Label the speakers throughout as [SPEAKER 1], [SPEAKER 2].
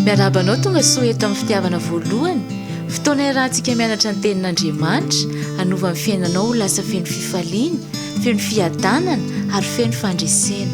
[SPEAKER 1] Miarahaba anao tonga soa eto amin'ny fitiavana voalohany, fotoana iarahantsika mianatra ny tenin'Andriamanitra, hanova ny fiainanao ho lasa feno fifaliana, feno fiadanana ary feno fandresena.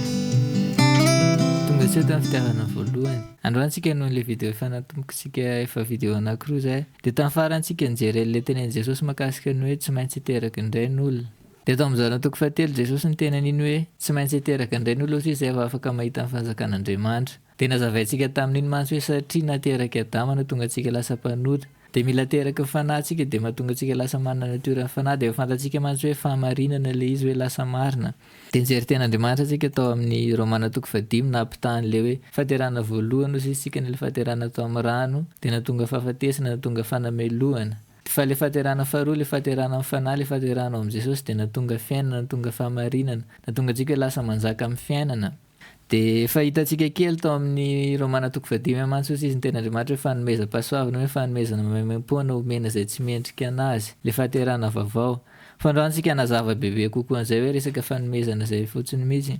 [SPEAKER 2] Tonga soa eto amin'ny fitiavana voalohany. Androany tsika hanohy ilay video efa natombokintsika efa video anankiroa izay. Dia tamin'ny farantsika nijery an'ilay tenenin'i Jesosy makasika ny hoe tsy maintsy hiteraky indray ny olona. Dia tao amin'ny Zana toko fahatelo Jesosy niteny an'iny hoe tsy maintsy hiteraka indray ny olona satria izay vao afaka mahita ny fanjakan'Andriamanitra. Dia nazavaintsika tamin'iny mantsy hoe satria naterak'i Adama no tonga antsika lasa mpanota. Dia mila teraky ny fanahy tsika dia mahatonga antsika lasa manana natioran'ny fanahy dia efa fantatsika mantsy hoe fahamarinana ilay izy hoe lasa marina. Dia nijery teny Andriamanitra tsika tao amin'ny Romana toko fahadimy nampitaha an'ilay hoe fahaterahana voalohany ho sisitsika ny ilay fahaterahana tao amin'ny rano dia nahatonga fahafatesana nahatonga fanamelohana. Fa ilay fahaterahana faharoa, ilay fahaterahana amin'ny Fanahy, ilay fahaterahana ao amin'i Jesosy dia nahatonga fiainana, nahatonga fahamarinana, nahatonga antsika lasa manjaka amin'ny fiainana. Dia efa hitantsika kely tao amin'ny Romana toko fahadimy amby mantsy osa izy ny tenin'Andriamanitra hoe fanomezam-pahasoavana, hoe fanomezana maimaimpoana omena izay tsy mendrika an'azy, ilay fahaterahana vaovao. Fandraontsika hanazava bebe kokoa an'izay hoe resaka fanomezana izay fotsiny mihitsy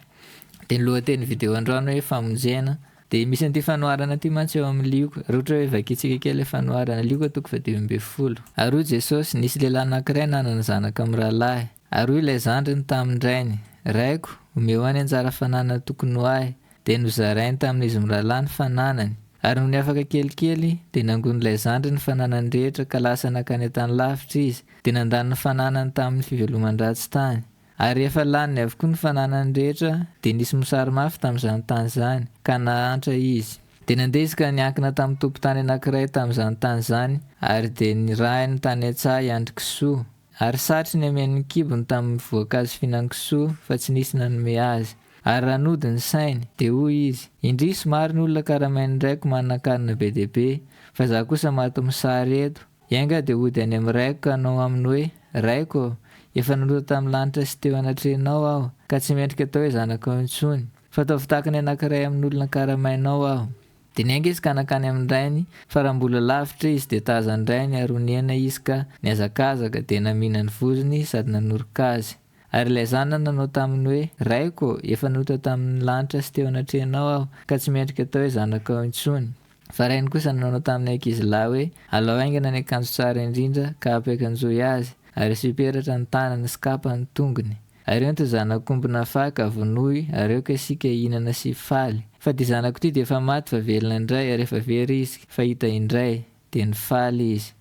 [SPEAKER 2] dia ny lohatenin'ny video androany hoe famonjena Dia misy an'ity fanoharana ity mantsy eo amin'ny Lioka, raha ohatra hoe vakintsika kely ilay fanoharana, Lioka toko faha dimy ambin'ny folo. Ary hoy Jesosy, Nisy lehilahy anankiray nanana zanaka mirahalahy. Ary hoy ilay zandriny tamin-drainy, Raiko, omeo ahy ny anjara fananana tokony ho ahy. Dia nozarainy tamin'izy mirahalahy ny fananany. Ary nony afaka kelikely, dia nangonin'ilay zandriny ny fananany rehetra ka lasa nankany an-tany lavitra izy, dia nandany ny fananany tamin'ny fiveloman-dratsy tany. Ary rehefa laniny avokoa ny fananany rehetra, dia nisy mosary mafy tamin'izany tany izany, ka nahantra izy. Dia nandeha izy ka niankina tamin'ny tompon-tany anankiray tamin'izany tany izany, ary dia nirahiny tany an-tsaha hiandry kisoa. Ary satry niameno ny kibony tamin'ny voankazo fihinan'ny kisoa, fa tsy nisy nanome azy. Ary raha nody ny sainy, dia hoy izy, Indrisy, maro ny olona karamain'ny raiko manana an-kanina be dia be, fa izaho kosa maty mosary eto. Enga dia hody any amin'ny Raiko ka hanao aminy hoe, Raiko ô, efa naloto tamin'ny lanitra sy teo anatrehanao aho, ka tsy mendrika atao hoe zanakao intsony. Fa ataovy tahaka ny anankiray amin'olona karamainao aho. Dia niainga izy ka nankany amin'ny rainy, fa raha mbola lavitra izy, dia tazan'ny rainy ary ho nihena izy ka nihazakazaka, dia namihina ny vozony sady nanoroka azy. Ary ilay zanany nanao taminy hoe, Raiko ô, efa nota tamin' ny lanitra sy teo anatrehanao aho, ka tsy mendrika atao hoe zanakao intsony. Fa rainy kosa nanao tamin' ny ankizy lahy hoe, Alao haingana ny akanjo tsara indrindra, ka apy akanjoy azy, ary asio peratra ny tanany sy kapa ny tongony. Ary ento ny zanak' omby nafaha, ka vonoy, ary aoka isika hihinana sy hifaly. Fa ity zanako ity dia efa maty fa velona indray, ary efa very izy, fa hita indray. Dia nifaly izy.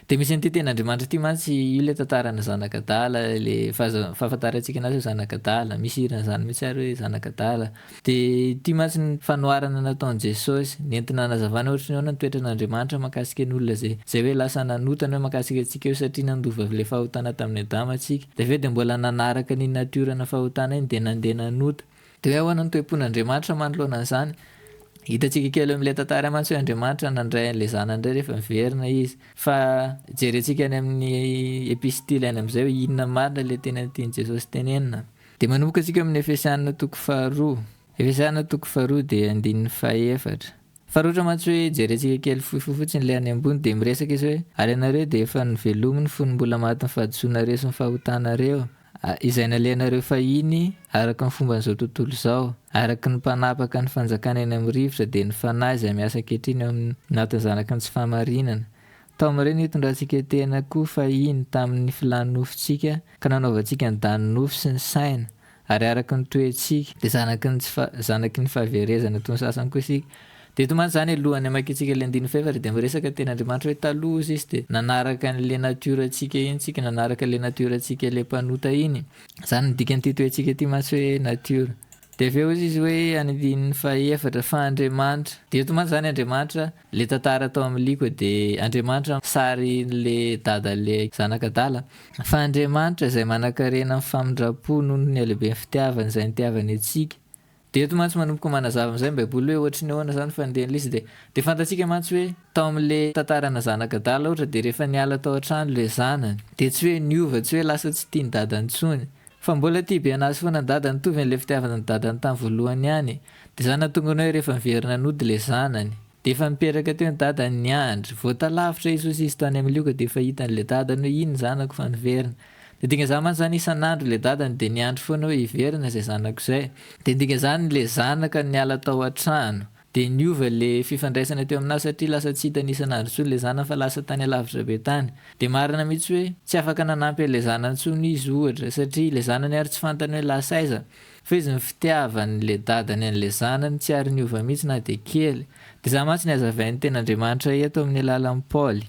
[SPEAKER 2] Dia misy an'ity tenin'Andriamanitra ity mantsy, io ilay tantaran'ny zanaka adala, ilay fahafantarantsika anazy hoe zanaka adala, misy hira an'izany mihitsy ary hoe zanaka adala. Dia ity mantsy ny fanoharana nataon'i Jesosy, nentina hanazavana ohatry ny ahoana ny toetran'Andriamanitra mahakasika ny olona izay izay hoe lasa nanotany hoe mahakasika antsika io satria nandova avy ilay fahotana tamin'i Adama isika. Dia avy eo dia mbola nanaraka an'iny natiorana fahotana iny dia nandeha nanota. Dia ahoana ny toe-pon'Andriamanitra manoloana an'izany? Hitantsika kely eo amin'ilay tantara mantsy hoe Andriamanitra nandray an'ilay Zanany indray rehefa niverina Izy. Fa jerentsika any amin'ny epistily any amin'izay hoe inona marina ilay tena tian'i Jesosy tenenina. Dia manomboka isika ao amin'ny Efesiana toko faharoa. Efesiana toko faharoa dia andininy fahefatra. Fa roatra mantsy hoe jerentsika kely fohifohy fotsiny ilay any ambony dia miresaka izy hoe ary ianareo dia efa novelomy ny fony mbola maty ny fahadisoanareo sy ny fahotanareo izay nalehanareo fahiny araka ny fomban'izao tontolo izao araka ny mpanapaka ny fanjakana eny amin'ny rivotra dia ny fanahy izay miasa ankehitriny eo anatin'ny zanaky ny tsy fahamarinana tao amin'ireo nitondrantsika tena koa fahiny tamin'ny filàn'ny nofontsika ka nanaovantsika ny danin'ny nofo sy ny saina Ary araka ny toetsika, dia zanaky ny tsy fa, zanaky ny fahaverezana toy ny sasany koa isika. Dia eto mantsy izany alohan'ny hamakiantsika ilay andininy fahefatra dia miresaka teny Andriamanitra hoe taloha hozy izy dia nanaraka an'ilay natiorantsika iny tsika, nanaraka ilay natiorantsika ilay mpanota iny. Izany no dikan'ity toetsika ity mantsy hoe natiora. Dia avy eo hozy izy hoe any andininy fahefatra fa Andriamanitra, dia eto mantsy izany Andriamanitra, Le tantara tao am liko de Andriamanitra am sary le dada le zanak adala fa Andriamanitra izay manakarena am famindrampo noho ny halehiben fitiavany izay nitiavany antsika de eto mantsy manomboka manazava am zay ny baiboly hoe ohatry ny ahoana zany fanindrian lisy de de fantatsika mantsy hoe tao am le tantarana zanak adala ohatra de rehefa niala tao an trano le zanany de tsy hoe niova tsy hoe lasa tsy tia ny dadany tsony Fa mbola tia be anazy foana dada nitovy anle fitiavana ny dadany tam voalohany ihany de za natonga ny hoe rehefa miverina nody le zanany de efa nipetraka teo ny dadany niandry vao talavitra i sosisy tany am lioka de efa hitany le dadany hoe iny zanako fa niverina de dinga zany mantsy zany isan andro le dadany de niandry foana hoe hiverina zay zanako zay de dinga zany le zanaka niala tao an trano Dia niova ilay fifandraisana teo aminà satria lasa tsy hitany isan'andro intsony ilay zanany fa lasa tany alavitra be tany. Dia marina mihitsy hoe tsy afaka nanampy an'ilay zanany intsony izy, ohatra, satria ilay zanany ary tsy fantany hoe lasa aiza. Fa izy ny fitiavan'ilay dadany an'ilay zanany tsy ary niova mihitsy na dia kely. Dia izany mantsy no hazavain'ny Tenin'Andriamanitra eto amin'ny alalan'i Paoly.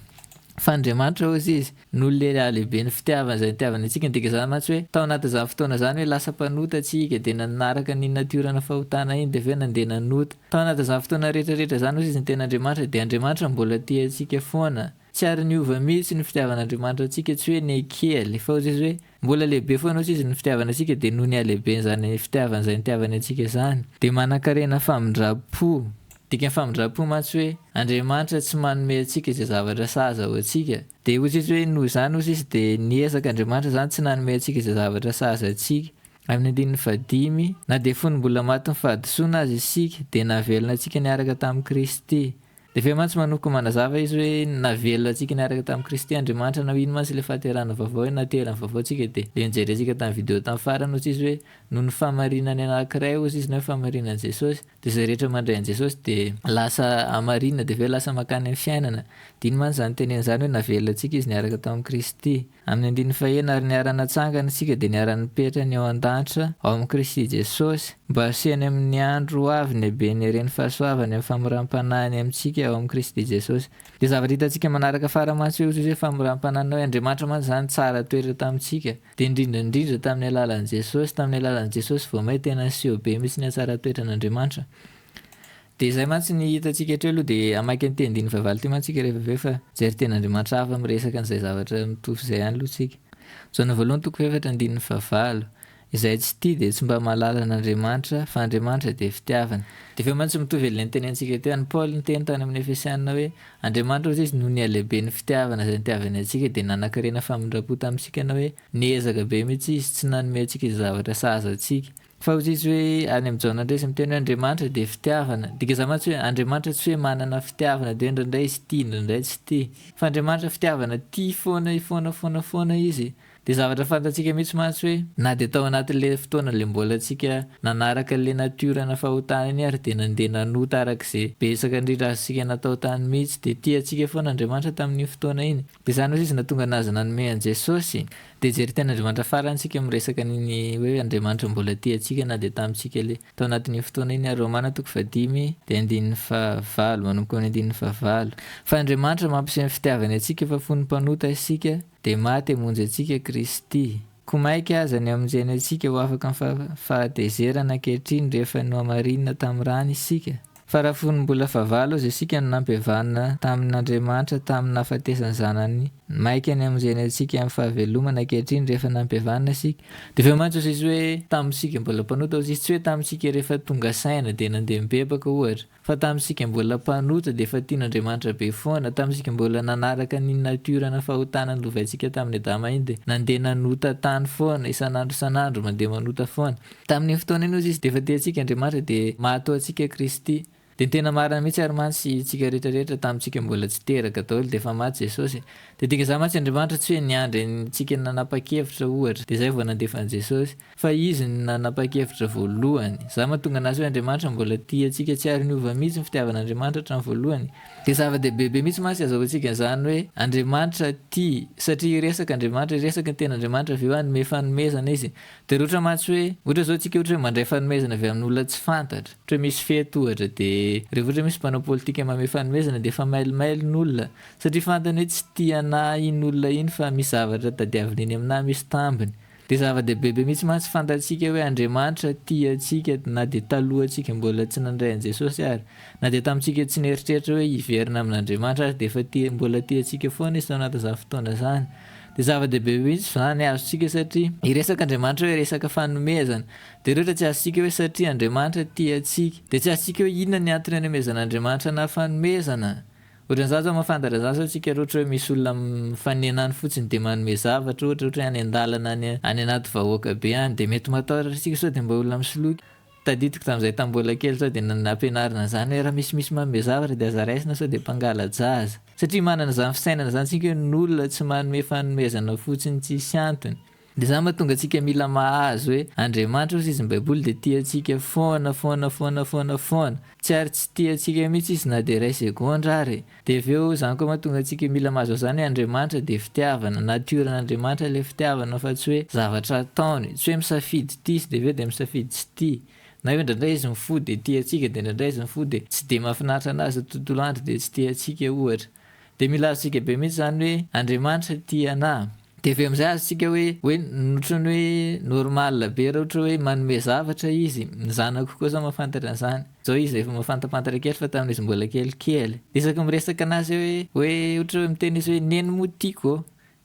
[SPEAKER 2] Fa Andriamanitra hoy izy, izy no lehilahy lehiben'ny fitiavana izay nitiavany antsika, midika izany mantsy hoe tao anatin'izany fotoana izany hoe lasa mpanota tsika dia nanaraka an'iny natiorana fahotana iny dia avy eo nandeha nanota. Tao anatin'izany fotoana rehetra rehetra izany hoy izy ny tena Andriamanitra dia Andriamanitra mbola tia antsika foana. Tsy ary niova mihitsy ny fitiavan'Andriamanitra antsika tsy hoe nekely fa hoy izy hoe Mbola lehibe foana osa izy ny fitiavana antsika dia noho ny halehibeny izany fitiavana izay nitiavany antsika izany dia manankarena famindram-po. Dikan'ny famindram-po mantsy hoe Andriamanitra tsy manome antsika izay zavatra sahaza ho antsika. Dia osa izy hoe noho izany osa izy dia niezaka Andriamanitra izany tsy nanome antsika izay zavatra sahaza antsika. Amin'ny andininy fahadimy, na dia fony mbola matin'ny fahadisoana aza isika dia navelona antsika niaraka tamin'i Kristy. Efa mantsy manoko manazava izy hoe navelona antsika niaraka tamin'i Kristy Andriamanitra na ho ino mantsy ilay fahaterahana vaovao hoe naterany vaovao tsika dia ilay nojerentsika tamin'ny video tamin'ny farany ozy izy hoe noho ny fahamarinany anakiray ozy izy na hoe fahamarinan'i Jesosy dia izay rehetra mandray an'i Jesosy dia lasa hamarinina dia avy eo lasa mankany amin'ny fiainana dia ino mantsy izany tenenina izany hoe navelona antsika izy niaraka tamin'i Kristy Amin'ny andininy faheno ary niara-natsangana isika dia niara-nipetra ny eo an-danitra ao amin'i Kristy Jesosy, mba hasehony amin'ny andro ho avy ny haben'ny heren'ny fahasoavany amin'ny famoram-panahiny amintsika ao amin'i Kristy Jesosy. Dia zavatra hitantsika manaraka fara mantsy hoe ohatr'izay famoram-panahiny hoe Andriamanitra mantsy izany tsara toetra tamintsika, dia indrindra indrindra tamin'ny alalan'i Jesosy, tamin'ny alalan'i Jesosy vao may tena niseho be mihitsy ny hatsara toetran'Andriamanitra. Dia izay mantsy ny hitantsika hatreo aloha dia hamaky an'ity andininy fahavalo ity mantsika rehefa avy eo fa jery tena Andriamanitra hafa miresaka an'izay zavatra mitovy izay ihany aloha tsika. Jaona voalohany toko fahefatra andininy fahavalo, Izay tsy tia dia tsy mba mahalala an'Andriamanitra, fa Andriamanitra dia fitiavana. Dia avy eo mantsy mitovy ilay notenenintsika teo, an'i Paoly niteny tany amin'ny Efesiana hoe, Andriamanitra hozy izy noho ny halehiben'ny fitiavana izay nitiavany antsika dia nanankarena famindram-po tamintsika na hoe, niezaka be mihitsy izy tsy nanome antsika izay zavatra sahaza antsika. Faharotiso hoe any amin'i Jaona indray izy miteny hoe Andriamanitra dia fitiavana. Dika izany mantsy hoe Andriamanitra tsy hoe manana fitiavana dia hoe indraindray izy tia indraindray tsy tia. Fa Andriamanitra fitiavana tia foana foana foana foana izy. Dia zavatra fantatsika mihitsy mantsy hoe na dia tao anatin'ilay fotoana ilay mbola antsika nanaraka an'ilay natiorana fahotana iny ary dia nandeha nanota araka izay betsaka indrindra azontsika natao tany mihitsy dia tia antsika foana Andriamanitra tamin'iny fotoana iny. Dia izany mantsy izy nahatonga anazy nanome an'i Jesosy. Dia jery teny Andriamanitra farany isika miresaka an'iny hoe Andriamanitra mbola tia antsika na dia tamintsika le. Tao anatin'io fotoana iny ary Romana toko fahadimy dia andininy fahavalo manomboka amin'ny andininy fahavalo. Fa Andriamanitra mampiseho ny fitiavany antsika fa fony mpanota isika dia maty hamonjy antsika Kristy. Koa maika aza ny hamonjeny antsika ho afaka amin'ny fahatezerana ankehitriny rehefa nohamarinina tamin'ny rany isika. Fa raha fony mbola fahavalo aza isika no nampihavana tamin' Andriamanitra tamin' ny nahafatesan' ny Zanany maika ny hamonjeny antsika amin' ny fahavelomana ankehitriny rehefa nampihavana isika, dia avy eo mantsy hozizy hoe tamin' isika mbola mpanota hozizy, tsy hoe tamin' isika rehefa tonga saina dia nandeha mibebaka ohatra, fa tamin' isika mbola mpanota dia efa tian' Andriamanitra be foana, tamin' isika mbola nanaraka ny natiora na fahotana nolovaintsika tamin' i Adama iny dia nandeha nanota tany foana isan' andro isan' andro mandeha manota foana. Tamin'iny fotoana iny ozy izy dia efa tia antsika Andriamanitra dia mahatoa antsika Kristy. Dia ny tena marina mihitsy ary mantsy isika rehetra rehetra tamintsika mbola tsy teraka daoly dia efa maty Jesosy. Dia dinga izany mantsy Andriamanitra tsy hoe niandry antsika nanapakevitra ohatra dia izay vao nandefa an'i Jesosy. Fa izy no nanapakevitra voalohany. Izany mahatonga anazy hoe Andriamanitra mbola tia antsika tsy ary niova mihitsy ny fitiavan'Andriamanitra hatramin'ny voalohany. Dia zava-dehibe be mihitsy mantsy azahoa antsika an'izany hoe Andriamanitra tia satria hiresaka Andriamanitra, hiresaka ny ten'Andriamanitra avy eo hanome fanomezana izy. Dia loatra mantsy hoe, ohatra izao tsika ohatra hoe mandray fanomezana avy amin' olona tsy fantatra, ohatra hoe misy fety ohatra dia rehefa ohatra hoe misy mpanao politika manome fanomezana dia efa mailomailo ny olona satria fantany hoe tsy tia an' ahy iny olona iny fa misy zavatra tadiaviny eny amin' ahy misy tambiny. Dia zava-dehibe be mihitsy mantsy fantatsika hoe Andriamanitra tia antsika na dia talohan' tsika mbola tsy nandray an' Jesosy ary, na dia tamin' tsika tsy nieritreritra hoe hiverina amin' Andriamanitra aza dia efa tia mbola tia antsika foana Izy tao anatin' izany fotoana izany. Dia zava-dehibe mihitsy izany azontsika satria hiresaka Andriamanitra hoe resaka fanomezana. Dia ireo ohatra tsy azontsika hoe satria Andriamanitra tia antsika. Dia tsy azontsika hoe inona ny antony anomezana Andriamanitra anà fanomezana. Ohatran'izany izao mahafantatra izany sao antsika ireo ohatra hoe misy olona mifanena any fotsiny dia manome zavatra ohatra, ohatra hoe any an-dalana any, any anaty vahoaka be any dia mety matahotra antsika sao dia mba olona misoloky. Tadidiko tamin'izay tamin'ny mbola kely tao dia nampianarina an'izany hoe raha misimisy manome zavatra dia aza raisina sao dia mpangala-jaza. Satria manana izany fisainana izany isika hoe ny olona tsy manome fanomezana fotsiny tsisy antony. Dia izany mahatonga antsika mila mahazo hoe Andriamanitra osa izy ny baiboly dia tia antsika foana foana foana foana foana. Tsy ary tsy tia antsika mihitsy izy na dia iray segondra ary e. Dia avy eo izany koa mahatonga antsika mila mazava izany hoe Andriamanitra dia fitiavana, nature n'Andriamanitra ilay fitiavana fa tsy hoe zavatra ataony, tsy hoe misafidy tia sy dia avy eo dia misafidy tsy tia, na hoe indraindray izy mifoha dia tia antsika dia indraindray izy mifoha dia tsy dia mahafinaritra anazy ny tontolo andro dia tsy tia antsika ohatra. Dia mila azontsika be mihitsy izany hoe Andriamanitra tia anà. Dia avy eo amin'izay azontsika hoe hoe ohatran'ny hoe normal be raha ohatra hoe manome zavatra izy. Ny zanako koa izao mahafantatra an'izany. Izao izy efa mahafantampantatra kely fa tamin'izy mbola kelikely. Dia isaky miresaka an'azy hoe hoe ohatra hoe miteny izy hoe neny moa tiako ô!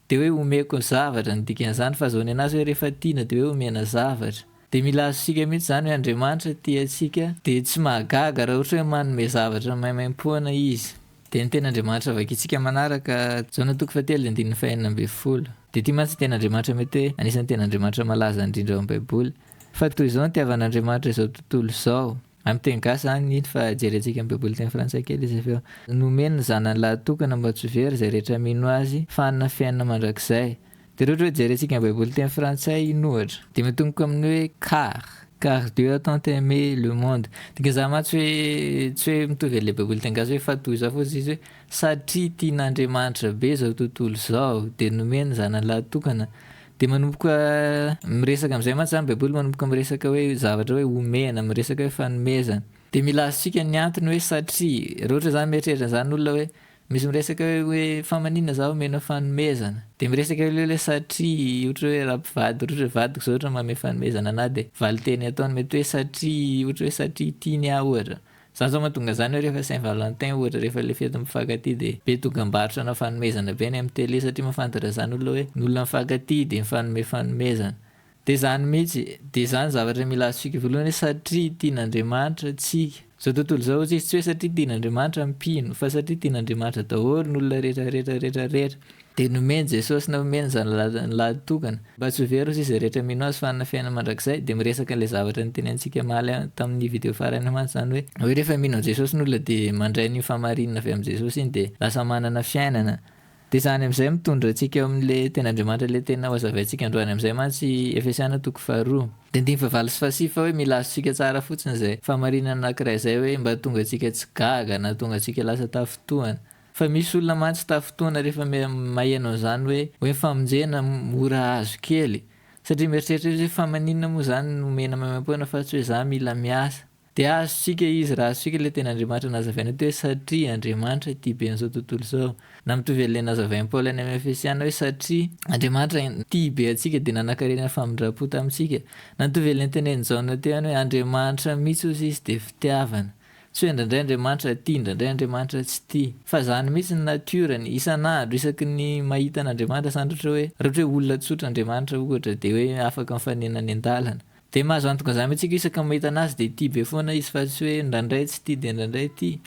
[SPEAKER 2] dia hoe omeko ny zavatra ny dikan'izany. Fa azahoany an'azy hoe rehefa tiana dia hoe omena zavatra. Dia mila azontsika mihitsy izany hoe Andriamanitra tia antsika dia tsy mahagaga raha ohatra hoe manome zavatra maimaim-poana izy. Dia ny Tenin'Andriamanitra vakintsika manaraka, Jaona toko fahatelo dia andininy fahenina ambin'ny folo. Dia ity mantsy ny Tenin'Andriamanitra mety hoe anisan'ny Tenin'Andriamanitra malaza indrindra ao amin'ny Baiboly. Fa toy izao ny itiavan'Andriamanitra izao tontolo izao. Amin'ny teny gasy izany iny fa jerentsika amin'ny Baiboly teny frantsay kely izy avy eo. Nomeny ny Zanany lahy tokana mba tsy ho very izay rehetra mino Azy fa hanana fiainana mandrakizay. Dia raha ohatra hoe jerentsika ny baiboly teny frantsay iny ohatra dia mitomboka amin'ny hoe car, car Dieu a tant aime le monde, dia gezahina mantsy hoe tsy hoe mitovy an'ilay baiboly teny gasy hoe fa toy izao fotsiny izy hoe satria tian'Andriamanitra be izao tontolo izao dia nomeny ny zanany lahatokana dia manomboka miresaka amin'izay mantsy izany baiboly manomboka miresaka hoe zavatra hoe omena, miresaka hoe fanomezana. Dia mila azontsika ny antony hoe satria, raha ohatra izany mieritreritra an'izany ny olona hoe Misy miresaka hoe fa manina za omena fanomezana de miresaka ileo le satria ohatra hoe ra mpivady ohatra hoe vadiko zao ohatra manome fanomezana anah de valinteny ataony mety hoe satria ohatra hoe satria tiany ah ohatra zany zao mahatonga zany hoe refa saint valentin ohatra refa le fety mifakatia de be dogambarotra ana fanomezana be any am tele satria mafantatra zany olona hoe ny olona mifakatia de mifanome fanomezana Dia izany mihitsy, dia izany zavatra mila azontsika voalohany hoe satria tian'Andriamanitra antsika. Izao tontolo izao hoy tsisy tsy hoe satria tian'Andriamanitra mpino, fa satria tian'Andriamanitra daholo ny olona rehetra rehetra rehetra rehetra. Dia nomeny Jesosy na omeny izany lalany lahitokana, mba tsy ho very hozy izay rehetra mino Azy fa hanana fiainana mandrakizay, dia miresaka an'ilay zavatra notenenintsika omaly tamin'ny video farany mantsy izany hoe, hoe rehefa mino an'i Jesosy ny olona dia mandray an'iny fahamarinana avy amin'i Jesosy iny dia lasa manana fiainana, Dia izany amin'izay mitondra antsika eo amin'ilay teny Andriamanitra ilay tena ho hazavaintsika androany amin'izay mantsy Efesiana toko faharoa. Dia andininy fahavalo sy fahasivy fa hoe mila azontsika tsara fotsiny izay fahamarinana anankiray izay hoe mba hahatonga antsika tsy gaga na hahatonga antsika lasa tafintohana. Fa misy olona mantsy tafintohana rehefa maheno an'izany hoe hoe ny famonjena mora azo kely. Satria mieritreritra izy hoe fa maninona moa izany no omena maimaimpoana fa tsy hoe za mila miasa. Dia azontsika izy raha azontsika ilay teny Andriamanitra nazavaina eto hoe satria Andriamanitra ity be an'izao tontolo izao. Na mitovy an'ilay nazavain'i Paoly any amin'ny Efesiana hoe satria Andriamanitra tia be antsika dia nanankarena ny famindram-po tamintsika. Na mitovy an'ilay notenenin'i Jaona teo ihany hoe Andriamanitra mihitsy hozy izy dia fitiavana. Tsy hoe indraindray Andriamanitra tia, indraindray Andriamanitra tsy tia. Fa izany mihitsy ny natiorany. Isan'andro, isaky ny mahita an'Andriamanitra, zany raha ohatra hoe, raha ohatra hoe olona tsotra Andriamanitra ohatra dia hoe afaka mifanena any an-dalana. Dia mahazo antoka izany mintsika isaka mahita anazy dia tia be foana izy fa tsy hoe ndraindray tsy tia dia ndraindray tia.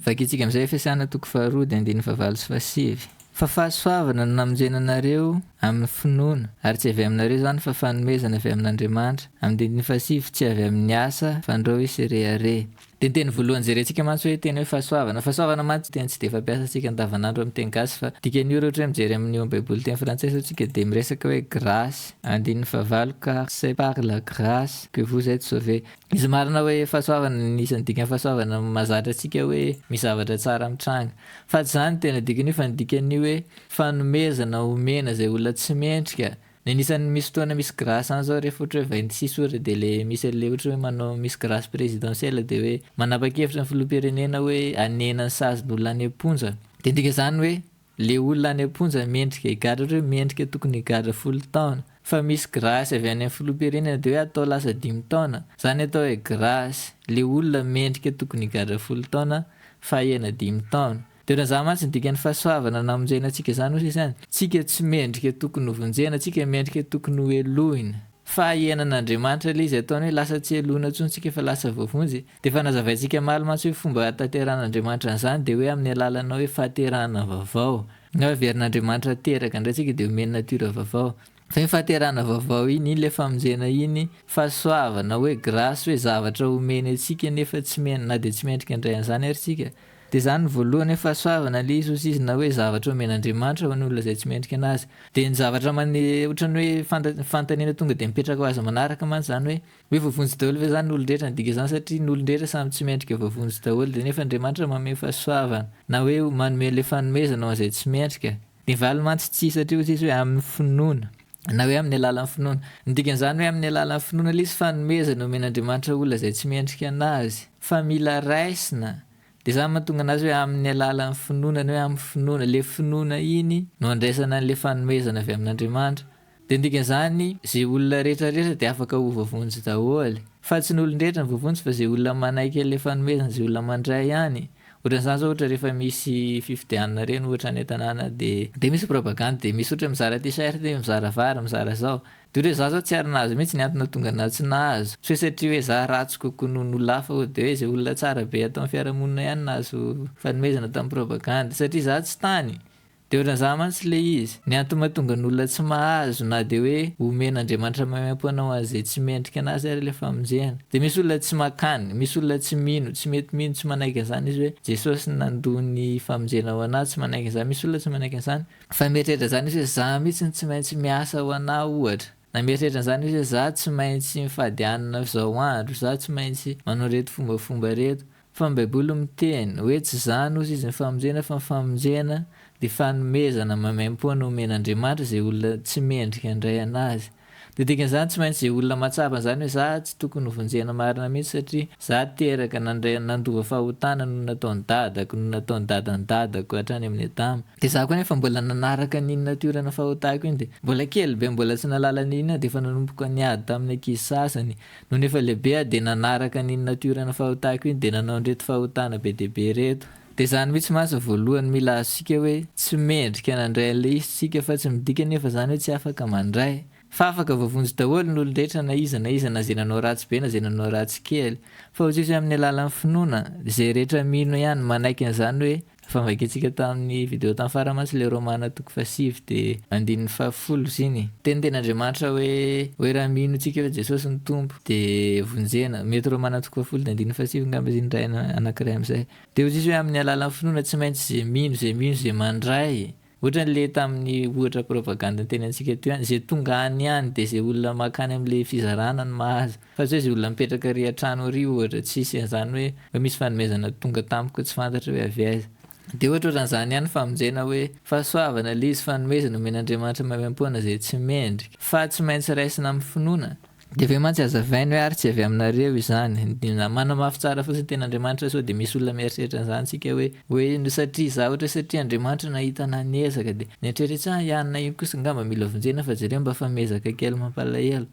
[SPEAKER 2] Vakintsika amin'izay Efesiana toko faharoa dia andininy fahavalo sy fahasivy. Fa fahasoavana no namonjena anareo amin'ny finoana, ary tsy avy aminareo izany fa fanomezana avy amin'Andriamanitra, amin'ny dindiny fahasivy, tsy avy amin'ny asa, fa andrao hisy rehareha. Dia ny teny voalohany jerentsika mantsy hoe teny hoe fahasoavana. Fahasoavana mantsy teny tsy dia fampiasantsika andavanandro amin'ny teny gasy fa dikan'io raha ohatra hoe mijery amin'ny eo amin'ny baiboly teny frantsay izao isika dia miresaka hoe grâce, andininy fahavalo, car c'est par la grâce que vous etes sauvés. Izy marina hoe fahasoavana ny isan'ny dikan'ny fahasoavana mahazatra antsika hoe misy zavatra tsara mitranga. Fa tsy izany ny tena dikan'io fa ny dikan'io hoe fanomezana omena izay olona tsy mendrika Ny anisan'ny misy fotoana misy grâce any zao rehefa ohatra hoe vahiny tsisy ohatra dia le misy an'le ohatra hoe manao misy grâce présidentielle dia hoe manapa-kevitra ny filoham-pirenena hoe hanena ny sazin'ny olona any am-ponja. Dia midika izany hoe le olona any am-ponja mendrika higadra ohatra hoe mendrika tokony higadra folo taona. Fa misy grâce avy any amin'ny filoham-pirenena dia hoe atao lasa dimy taona. Izany atao hoe grâce. Le olona mendrika tokony higadra folo taona fahena dimy taona. Dia lazaho mantsy ny dikan'ny fahasoavana namonjena antsika izany hoy Sisa any, Tsika tsy mendrika tokony ho vonjena, tsika mendrika tokony ho helohina. Fahahianan'Andriamanitra ilay izy ataony hoe lasa tsy helohina intsony tsika fa lasa voavonjy. Dia efa nazavaintsika maly mantsy hoe fomba hahatanteran'Andriamanitra an'izany dia hoe amin'ny alalana hoe fahaterahana vaovao. Ny hoe heverin'Andriamanitra teraka indray tsika dia omeny natiora vaovao. Fa iny fahaterahana vaovao iny, iny ilay famonjena iny, fahasoavana hoe grâce hoe zavatra omeny antsika nefa tsy mendrika na dia tsy mendrika indray an'izany ary tsika. Dia izany no voalohany hoe fahasoavana ilay izy hozy izy na hoe zavatra omen'Andriamanitra ho an'ny olona izay tsy mendrika anazy. Dia ny zavatra mane ohatran'ny hoe fanta fanontaniana tonga dia mipetraka ho azy manaraka mantsy izany hoe, hoe voavonjy daholo ve izany ny olon-drehetra ny dika izany satria ny olon-drehetra samy tsy mendrika voavonjy daholo dia nefa Andriamanitra manome fahasoavana na hoe manome ilay fanomezana ho an'izay tsy mendrika. Ny valiny mantsy tsia satria hozy izy hoe amin'ny finoana. na hoe amin'ny alalan'ny finoana. Ny dikan'izany hoe amin'ny alalan'ny finoana ilay izy fanomezana omen'Andriamanitra olona izay tsy mendrika anazy, fa mila raisina, dia izany mahatonga anazy hoe amin'ny alalan'ny finoana, ny hoe amin'ny finoana, ilay finoana iny no andraisana an'ilay fanomezana avy amin'Andriamanitra. Dia ny dikan'izany izay olona rehetra rehetra dia afaka ho voavonjy daholo. Fa tsy ny olon-drehetra no voavonjy fa izay olona manaiky an'ilay fanomezana, izay olona mandray ihany, Ohatran'izany zao ohatra rehefa misy fifidianana ireny ohatra any an-tanàna dia dia misy propagande dia misy ohatra mizara t-shirt, mizara vary, mizara zao. Dia ohatra hoe za zao tsy ary nahazo mihitsy ny antony nahatonga anah tsy nahazo. Tsy hoe satria hoe za ratsy kokoa noho ny olona hafa dia hoe izay olona tsara be ato amin'ny fiarahamonina ihany nahazo fanomezana tamin'ny propagande. Satria za tsy tany Deo lazaha mantsy le izy. Ny antony mahatonga ny olona tsy mahazo na dia hoe omen Andriamanitra maimaimpo anao ho an'izay tsy mendrika anazy ary ilay famonjena. Dia misy olona tsy makany, misy olona tsy mino, tsy mety mino, tsy manaiky an'izany izy hoe Jesosy no nandoa ny famonjena ho anà, tsy manaiky an'izany, misy olona tsy manaiky an'izany. Fa mieritreritra an'izany izy hoe za mihitsy no tsy maintsy miasa ho anà ohatra. Na mieritreritra an'izany izy hoe za tsy maintsy mifady hanina izao andro, za tsy maintsy manao ireto fombafomba ireto. Fa ny baiboly miteny oe tsy zany ozy izy ny famonjena fa ny famonjena de fanomezana maimaimpoana omen'Andriamanitra ze olona tsy mendrika andray anazy de dikan'izany tsy maintsy ze olona mahatsapa an'izany oe za tsy tokony hovonjena marina mihitsy satria za teraka nandray nandova fahotana no nataony dadako no nataony dadan'ny dadako hatrany amin'ny adama de za koa nefa mbola nanaraka an'iny natiorana fahotako iny de mbola kely be mbola tsy nahalala an'iny aho de efa nanomboka niady tamin'ny ankizy sasany Nony efa lehibe aho dia nanaraka an'iny natiora nafahotako iny dia nanao an'ireto fahotana be dia be ireto. Dia izany mihitsy mantsy no voalohany mila azontsika hoe tsy mendrika nandray an'ilay izy isika fa tsy midika anefa izany hoe tsy afaka mandray. Fa afaka voavonjy daholo ny olon-drehetra na iza na iza na izay nanao ratsy be na izay nanao ratsy kely. Fa hoy Jesosy amin'ny alalan'ny finoana, izay rehetra mino ihany manaiky an'izany hoe Efa novakintsika tamin'ny video tamin'ny farany mantsy ilay Romana toko fahasivy dia andininy fahafolo ziny. Teny teny Andriamanitra hoe hoe raha mino tsika hoe Jesosy no Tompo dia vonjena. Mety Romana toko fahafolo dia andininy fahasivy ngamba izy iny iray anakiray amin'izay. Dia hoy Jesosy hoe amin'ny alalan'ny finoana tsy maintsy izay mino izay mino izay mandray Ohatran le tamin'ny ohatra propagande niteny antsika teo ihany, ze tonga any ihany de ze olona makany am le fizarana no mahazo, fa tsy hoe ze olona mipetraka ary an-trano ary ohatra, tsisy an'zany hoe hoe misy fanomezana tonga tamiko tsy fantatra hoe avy aiza. De ohatra ohatran'zany ihany ny famonjena hoe fahasoavana le izy fanomezana omen'Andriamanitra maimaimpoana ze tsy mendrika, fa tsy maintsy raisina am finoana, Dia ve mantsy hazavainy hoe ary tsy avy aminareo izany? Dia manamafy tsara fotsiny ny Tenin'Andriamanitra sao dia misy olona mieritreritra an'izany isika hoe, hoe satria izaho ohatra hoe satria Andriamanitra nahita anà niezaka dia nieritreritra hoe ahy nahino kosa angamba mila vonjena fa jereo mba fa miezaka kely mampalahelo.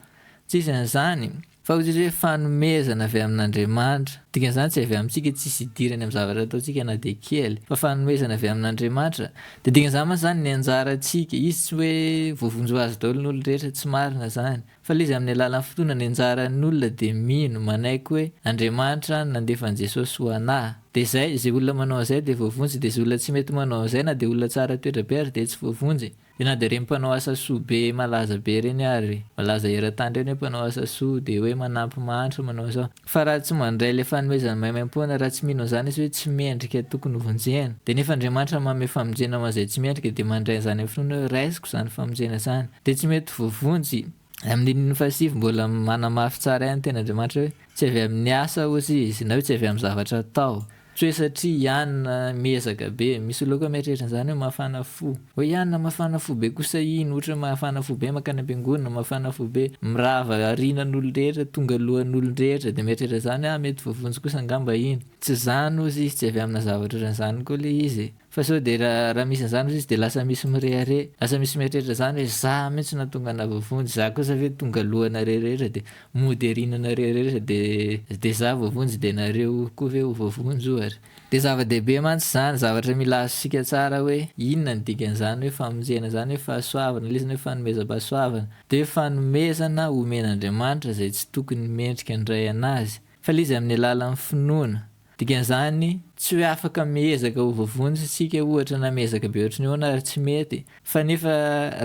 [SPEAKER 2] Tsy izy an'izany fa hoy Jesosy hoe fanomezana avy amin'Andriamanitra. Dikan'izany tsy avy amintsika, tsisy idirany amin'ny zavatra ataontsika na dia kely fa fanomezana avy amin'Andriamanitra. Dia dikan'izany mantsy izany ny anjarantsika. Izy tsy hoe voavonjy ho azy daholo ny olon-drehetra, tsy marina izany. Fa le izy amin'ny alalan'ny finoana ny anjaran'ny olona dia mino, manaiky hoe Andriamanitra no nandefa an'i Jesosy ho anah. Dia zay, izay olona manao an'izay dia voavonjy, dia izay olona tsy mety manao an'izay na dia olona tsara toetra be ary dia tsy voavonjy. Dia na dia ireny mpanao asa soa be malaza be ireny ary, malaza eran-tany ireny hoe mpanao asa soa, dia hoe manampy mahantra, manao izao, Fa raha tsy mandray ilay fanomezana maimaimpoana, raha tsy mino an'izany izy hoe tsy mendrika tokony hovonjena, dia nefa Andriamanitra manome famonjena ho an'izay tsy mendrika dia mandray an'izany amin'ny finoana hoe raisiko izany famonjena izany, dia tsy mety voavonjy. Amin'ny andininy fahasivy mbola manamafy tsara ihany ny tenin'Andriamanitra hoe tsy avy amin'ny asa ozy izy na hoe tsy avy amin'ny zavatra atao Tsoe satria Ianna miezaka be. Misy olona koa mieritreritra an'izany hoe mafana fo. Hoe Ianna mafana fo be kosa iny, ohatra mafana fo be mankany am-piangonana, mafana fo be mirava aorianan'olon-drehetra, tonga alohan'olon-drehetra dia mieritreritra izany hoe ah mety voavonjy kosa angamba iny. Tsy izany hozy izy, tsy avy amina zavatra ohatran'izany koa ilay izy e. Fa sao dia raha misy an'izany hozy izy dia lasa misy mirehareha, lasa misy mieritreritra izany hoe za mihitsy nahatonga anah voavonjy, za kosa ve tonga lohanareo rehetra dia mody ariana anareo rehetra dia dia za voavonjy dia nareo koa ve ho voavonjy ohatra. Dia zava-dehibe mantsy izany, zavatra mila azontsika tsara hoe inona ny dikan'izany hoe famonjena izany hoe fahasoavana, ilay izy hoe fanomezam-pahasoavana dia fanomezana omen'Andriamanitra izay tsy tokony mendrika ny ray an'azy fa ilay izy amin'ny alalan'ny finoana, Dikan'izany, tsy hoe afaka miezaka ho voavonjy isika ohatra na miezaka be ohatry ny ahoana ary tsy mety, fa nefa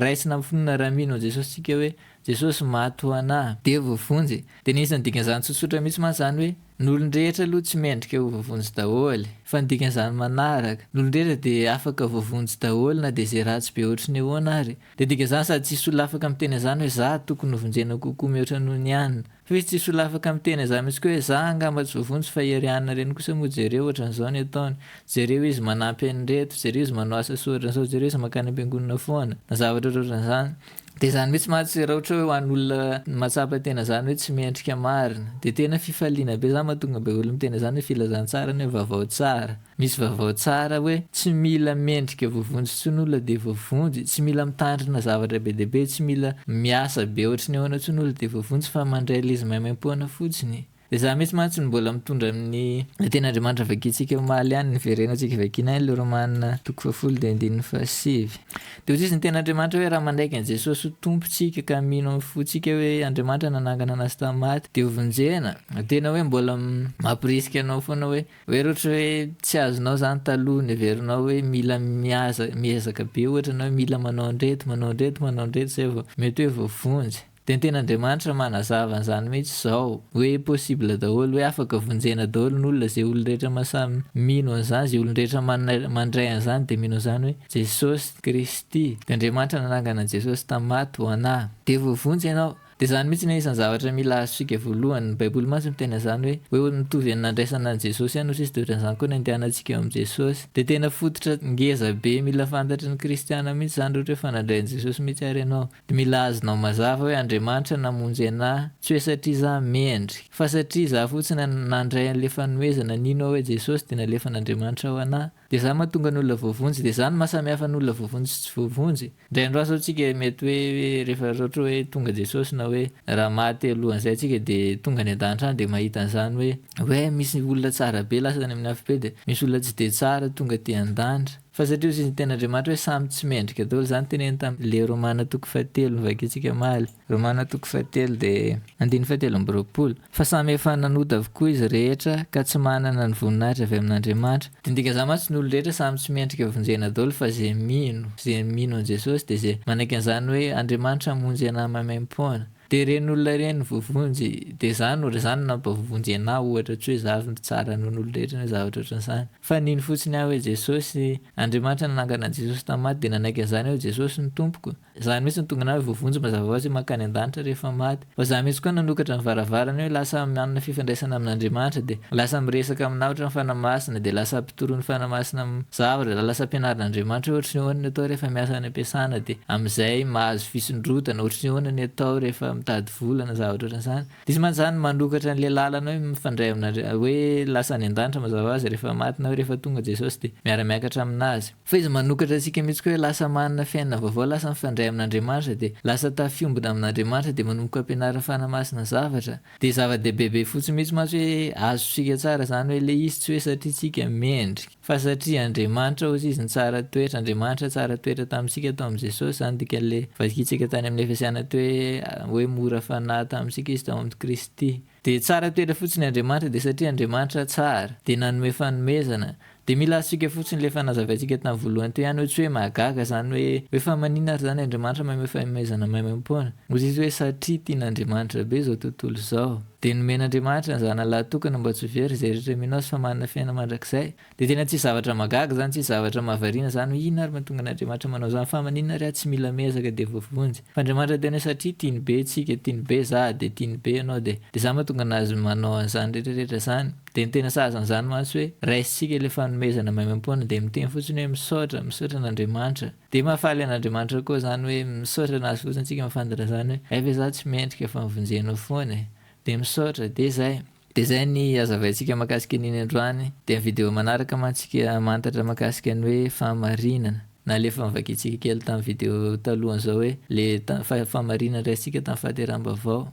[SPEAKER 2] raisina amin'ny finoana raha mino an'i Jesosy isika hoe, Jesosy maty ho anà, dia voavonjy. Dia ny isan'ny dikan'izany tsotsotra mihitsy mantsy izany hoe, ny olon-drehetra aloha tsy mendrika ho voavonjy daholo, fa ny dikan'izany manaraka, ny olon-drehetra dia afaka voavonjy daholo na dia izay ratsy be ohatry ny ahoana ary. Dia dikan'izany sady tsy hisy olona afaka miteny an'izany hoe, Izaho tokony hovonjena kokoa mihoatra noho ny anona. Hoy tsy solafaka miteny aza mitsy koa hoe za angamba tsy voavonjy fa i Riana reny kosa moa jereo ohatran'izao ny ataony, jereo izy manampy an'ireto, jereo izy manao asa soa ohatran'izao, jereo izy mankany am-piangonana foana na zavatra ohatrohatran'izany. Dia izany mitsy mantsy raha ohatra hoe ho an'olona mahatsapa tena izany hoe tsy mendrika marina dia tena fifaliana be izany mahatonga be olo miteny izany hoe filazantsara ny hoe vavao tsara. Misy vaovao tsara hoe tsy mila mendrika voavonjy intsony olona dia voavonjy, tsy mila mitandrina zavatra be dia be, tsy mila miasa be ohatry ny ahoana intsony olona dia voavonjy fa mandray lzy maimaimpoana fotsiny. Dia za mihitsy mantsy no mbola mitondra amin'ny ilay teny Andriamanitra vakintsika omaly ihany ny verena antsika vakiana any ilay Romana toko fahafolo dia andininy fahasivy. Dia hozizy ny teny Andriamanitra hoe raha manaiky an'i Jesosy ho Tompo tsika ka mino amin'ny fontsika hoe Andriamanitra nanangana anazy tamin'ny maty dia ho vonjena, tena hoe mbola mampirisika anao foana hoe Hoe raha ohatra hoe tsy azonao izany taloha neverinao hoe mila miaza, miezaka be ohatra na hoe mila manao an'ireto, manao an'ireto, manao an'ireto izay vao mety hoe voavonjy. Dia ny Tenin'Andriamanitra manazava an'izany mihitsy izao hoe possible daholo, hoe afaka vonjena daholo ny olona, izay olon-drehetra ma samy mino an'izany, izay olon-drehetra manana, mandray an'izany dia mino an'izany hoe Jesosy Kristy, dia Andriamanitra nanangana an'i Jesosy tamin'ny maty ho anà. Dia voavonjy ianao. Dia izany mihitsy ny anisan'ny zavatra mila azontsika voalohany. Ny Baiboly mantsy miteny an'izany hoe, hoe ho mitovy amin'ny nandraisana an'i Jesosy ihany hotsisy dia ohatran'izany koa ny andehanantsika eo amin'i Jesosy. Dia tena fototra ngeza be mila fantatry ny kristiana mihitsy izany raha ohatra hoe fanadray an'i Jesosy mihitsy ary ianao. Dia mila azonao mazava hoe Andriamanitra namonjy anà, tsy hoe satria izaho mendri, fa satria izaho fotsiny nandray an'ilay fanohezana, nino aho hoe Jesosy dia nalefan'Andriamanitra ho anà. Dia izany mahatonga ny olona voavonjy, dia izany mahasamihafa ny olona voavonjy sy tsy voavonjy. Indray andro asa antsika mety hoe rehefa raha ohatra hoe tonga Jesosy na hoe raha maty alohan'izay antsika dia tonga any an-danitra any dia mahita an'izany hoe hoe misy olona tsara be lasa any amin'ny afobe dia misy olona tsy dia tsara tonga aty an-danitra. Fa satria hoy izy ny tenin'Andriamanitra hoe samy tsy mendrika daholo, izany teneniny tamin'ny le Romana toko fahatelo novakintsika omaly. Romana toko fahatelo dia andininy fahatelo amby roapolo, Fa samy efa nanota avokoa izy rehetra ka tsy manana ny voninahitra avy amin'Andriamanitra. Dia dika zany mantsy ny olona rehetra samy tsy mendrika vonjena daholo fa ze mino, ze mino an'i Jesosy dia ze manaiky an'izany hoe Andriamanitra hamonjy anah maimaimpoana. Dia ireny olona ireny no voavonjy. Dia za no re zany no nampavonjy anah ohatra tsy hoe za avy mitsara nohon'olona rehetra na zavatra ohatran'izany. Fa nino fotsiny aho hoe Jesosy, Andriamanitra nanangana an'i Jesosy tamin'ny maty dia nanaiky an'izany hoe Jesosy no Tompoko. Izany mihitsy no tonga anareo voavonjy mazava hoazy mankany an-danitra rehefa maty. Fa za mihitsy koa nanokatra ny varavarana hoe lasa manana fifandraisana amin'Andriamanitra dia lasa miresaka aminao ohatran'ny fanahy masina dia lasa mpitoron'ny fanahy masina zavatra dia lasa ampianarin'Andriamanitra hoe ohatry ny ahoana ny atao rehefa miasa any am-piasana dia amin'izay mahazo fisondrotana ohatry ny ahoana ny atao rehefa mitady vola na zavatra ohatran'izany dia izy mantsy izany manokatra an'ilay lalana hoe mifandray amin'Andriamanitra hoe lasa any an-danitra mazava hoazy rehefa maty na hoe rehefa tonga Jesosy dia miara-miakatra aminazy Fa izy manokatra antsika mihitsy koa hoe lasa manana fiainana vaovao, lasa mifandray amin'Andriamanitra dia lasa tafiombona amin'Andriamanitra dia manomboka ampianariny fanahy-masina zavatra. Dia zava-dehibe be fotsiny mihitsy mantsy hoe azontsika tsara izany hoe ilay izy tsy hoe satria tsika mendrika fa satria Andriamanitra ozy izy nitsara toetra, Andriamanitra tsara toetra tamintsika tao amin'i Jesosy izany dikan'ilay vakintsika tany amin'ny Efesiana teo hoe hoe mora fanahy tamintsika izy tao amin'i Kristy. Dia tsara toetra fotsiny Andriamanitra dia satria Andriamanitra tsara dia nanome fanomezana dia mila azontsika fotsiny ilay efa nazavaintsika tamin'ny voalohany teo ihany hoe tsy hoe mahagaga izany hoe hoe fa maninona ary izany Andriamanitra manome fanomezana maimaim-poana ozizy hoe satria tian' Andriamanitra be izao tontolo izao dia nomen'Andriamanitra ny zanany lahatokany mba tsy ho very izay rehetra mino azy fa manana fiainana mandrakizay Dia tena tsisy zavatra mahagaga izany, tsisy zavatra mahavariana izany hoe inona ary mahatonga an'Andriamanitra manao izany fa maninona ary aho tsy mila miezaka dia voavonjy? Fa Andriamanitra tena hoe satria tiany be antsika, tiany be za dia tiany be ianao dia dia izany mahatonga an'azy manao an'izany rehetra rehetra izany. Dia ny tena sazy an'izany mantsy hoe raisintsika ilay fanomezana maimaimpoana dia miteny fotsiny hoe misaotra, misaotra an'Andriamanitra. Dia mahafaly an'Andriamanitra koa izany hoe misaotra nahazo fotsiny antsika mifandona izany hoe hay ve za tsy mendrika fa mivonjenao foana e! Dia misaotra, dia izay. Dia izay ny hazavaintsika mahakasika an'iny androany. Dia amin'ny video manaraka mantsika mahantatra mahakasika ny hoe fahamarinana. Na ilay efa novakintsika kely tamin'ny video talohan'izao hoe ilay fa-fahamarinana raisintsika tamin'ny fahateraham-baovao.